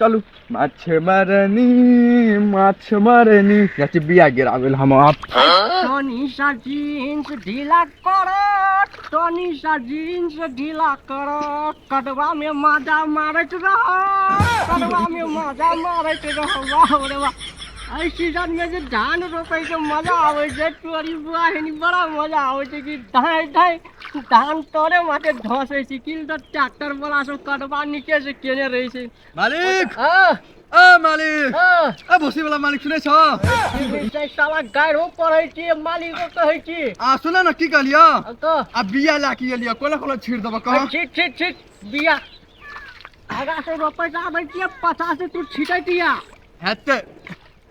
चलू माछ मरनी माछ मरनी जाइत छी बिया गिराबै लए हम आब टनी सा जीन्स ढीला कर टनी सा जीन्स ढीला कर कदवा में माजा मारत रह कदवा में माजा मारत रह वाह रे वाह एहि सीजन में जे धान रोपे के मजा आवे छै तोरी बुआ हेनी बड़ा मजा आवे छै कि धाय धाय धान तोरे माथे धसै छै किल त ट्रैक्टर वाला सब कटबा नीचे से केने रहै छै मालिक हां अ मालिक हां अ भोसी वाला मालिक सुनै छ छै साला गायरो पढ़ै छी मालिक को कहै छी आ सुन न की कहलियो क आ बिया ला के एलियो कोला कोला छीड़ देबो कह छी छी छी बिया आगा से रोपै जाबै छी पचास से तू छिटै दिया हेतै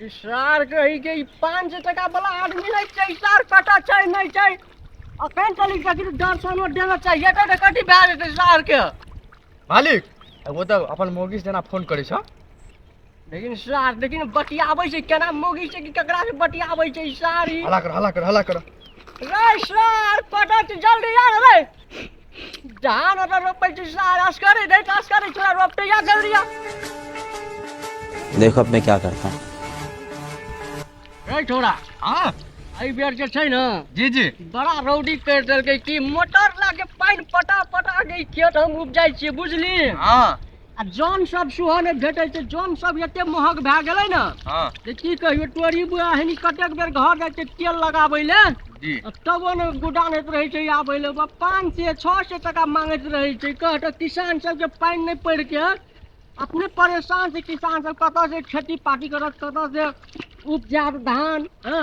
ई सार कही के ई पाँच सौ टका वाला आदमी नहीं चाहिए सार पता चाहिए नहीं चाहिए अखन चली जाती तो डर सोनो देना चाहिए एक एक कटी भए जेतै सार के मालिक एगो तऽ अपन मोगी से जेना फोन करै छ लेकिन सार लेकिन बतियाबै छै केना मोगी छै कि ककरा से बतियाबै छै ई सार ई हला कर हला कर हला कर रे सार पता छै जल्दी आ रे जहान ओकरा रोपै छै सारास करै नहि तास करै छै रोपते या कर दिया देखो अब मैं क्या करता हूँ रे छोरा हाँ एहि बेर जे छै ने जी जी बड़ा रौदी कर देलकै कि मोटर लाके पानि पटा पटा के ई खेत हम उपजाइ छियै बुझली हाँ आ जन सब सेहो नहि भेटै छै जन सब एते महग भए गेलै ने हँ जे की कहियो टोरी बुआ एहन कतेक बेर घर जाइ छै तेल लगाबै ले जी आ तबो ने गुडानैत रहै छै आबै ले बा पाँच सए छओ सए टाका मांगैत रहै छै कह तऽ किसान सबके पानि नहि पड़ि के अपने परेशान छै किसान सब कतऽ से खेती पाती करत कतऽ से उपजायत धान हँ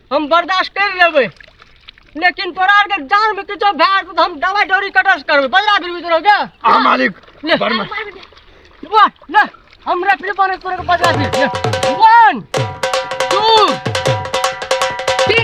हम बर्दाश्त कर लेबै लेकिन तोरा आर के जान में किछो भए जेतौ तऽ हम दवाई डोरी कटर से करबै बजरा फिरबी तोरा के आ मालिक ले बर्मा वाह ले हम रेफरी बने तोरा के बजरा फिर ले वन टू थ्री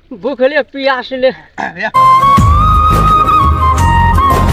भूखले पियासले